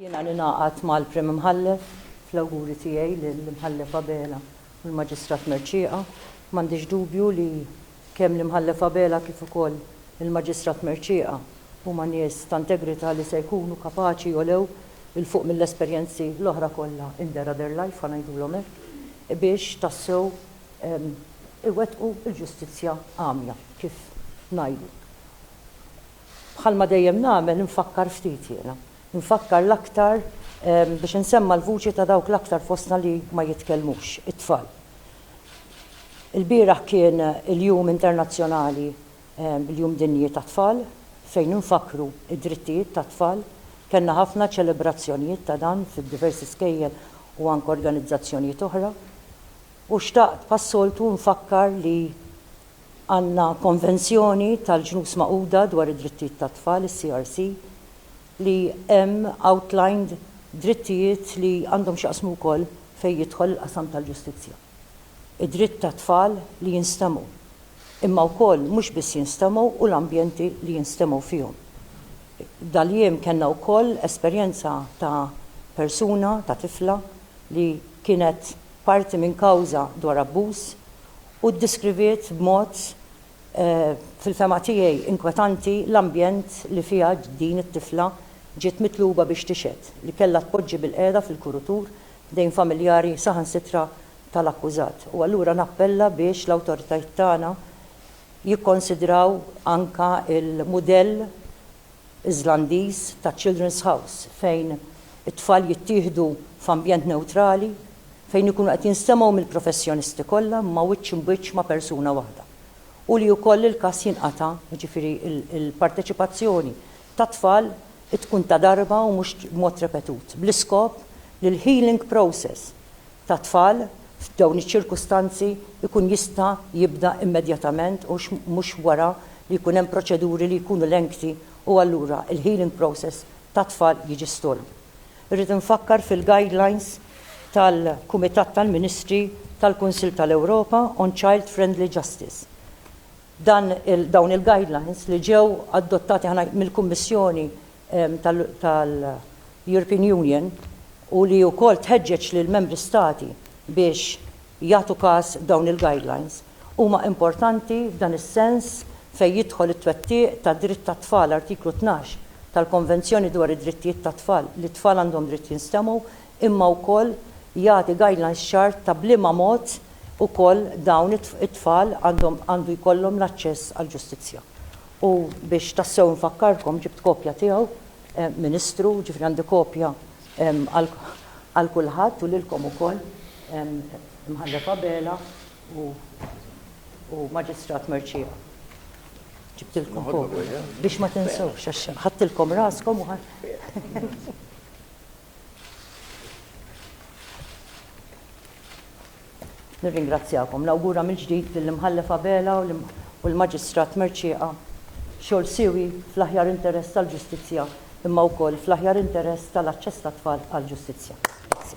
Jiena ningħaqad mal-Prim Imħallef fl-awguri tiegħi lill-Imħallef Abela u l-Maġistrat Mercieqa. M'għandix dubju li kemm l-Imħallef Abela kif ukoll il-Maġistrat Mercieqa huma nies ta' integrità li se jkunu kapaċi jogħlew 'il fuq mill-esperjenzi l-oħra kollha in their other life, ħa ngħidulhom hekk, biex tassew iwettqu l-ġustizzja għamja, kif ngħidu. Bħalma dejjem nagħmel infakkar ftit jiena. Infakkar l-aktar biex insemma' l-vuċi ta' dawk l-aktar fostna li ma jitkellmux, it-tfal. Ilbieraħ kien il-Jum Internazzjonali, il-Jum Dinji tat-Tfal, fejn infakkru d-drittijiet tat-tfal. Kellna ħafna ċelebrazzjonijiet ta' dan fid-diversi skejjel u anke organizzazzjonijiet oħra. U xtaqt bħas-soltu nfakkar li għandna Konvenzjoni tal-Ġnus Magħquda dwar id-Drittijiet tat-Tfal, is-CRC, li hemm outlined drittijiet li għandhom x'jaqsmu wkoll fejn jidħol il-qasam tal-ġustizzja. Id-dritt tat-tfal li jinstemgħu, imma wkoll mhux biss jinstemgħu u l-ambjenti li jinstemgħu fihom. Daljiem kellna wkoll esperjenza ta' persuna, ta' tifla li kienet parti minn kawża dwar abbuż, u ddeskriviet b'mod, fil-fehma tiegħi, inkwetanti l-ambjent li fiha din it-tifla ġiet mitluba biex tixhed, li kellha tpoġġi bilqiegħda fil-kurutur f'dejn familjari saħansitra tal-akkużat. U allura nappella biex l-awtoritajiet tagħna jikkonsidraw anke l-mudell, Iżlandiż ta' Children's House fejn it-tfal jittieħdu f'ambjent newtrali fejn ikunu qed jinstemgħu mill-professjonisti kollha imma wiċċ imbiċċ ma' persuna waħda u li wkoll il-każ jinqata', jiġifieri l-parteċipazzjoni tat-tfal tkun ta' darba u mhux b'mod repetut bl-iskop li l-healing process. tat-tfal f'dawn iċ-ċirkustanzi jkun jista' jibda immedjatament u mhux wara li jkun hemm proċeduri li jkunu lengthy u allura l-healing process tat-tfal jiġi stall. Irrid infakkar fil-guidelines tal-Kumitat tal-Ministri tal-Kunsill tal-Ewropa on Child Friendly Justice. Dan il, dawn il-guidelines li ġew adottati mill-Kummissjoni tal-European Union u li wkoll tħeġġeġ lill-Membri Stati biex jagħtu każ dawn il-guidelines, huma importanti f'dan is-sens fejn jidħol it-twettiq tad-dritt tat-tfal, Artiklu 12 tal-Konvenzjoni dwar id-Drittijiet tat-Tfal, li t-tfal għandhom dritt jinstemgħu, imma wkoll jagħti guidelines ċar ta' b'liema mod ukoll dawn it-tfal għandhom għandu jkollhom l-aċċess għall-ġustizzja. U biex tassew infakkarkom, ġibt kopja tiegħu, Ministru, jiġifieri għandi kopja għal kulħadd u lilkom ukoll, Imħallef Abela u Maġistrat Mercieca. Ġibtilkom kopja biex ma tinsewhx għax ħadtilkom raskom u. Nirringrazzjakom. Nawgura mill-ġdid lill-Imħallef Abela u l-Maġistrat Mercieqa xogħol siewi fl-aħjar interess tal-ġustizzja imma wkoll fl-aħjar interess tal-aċċess tat-tfal għall-ġustizzja. Grazzi.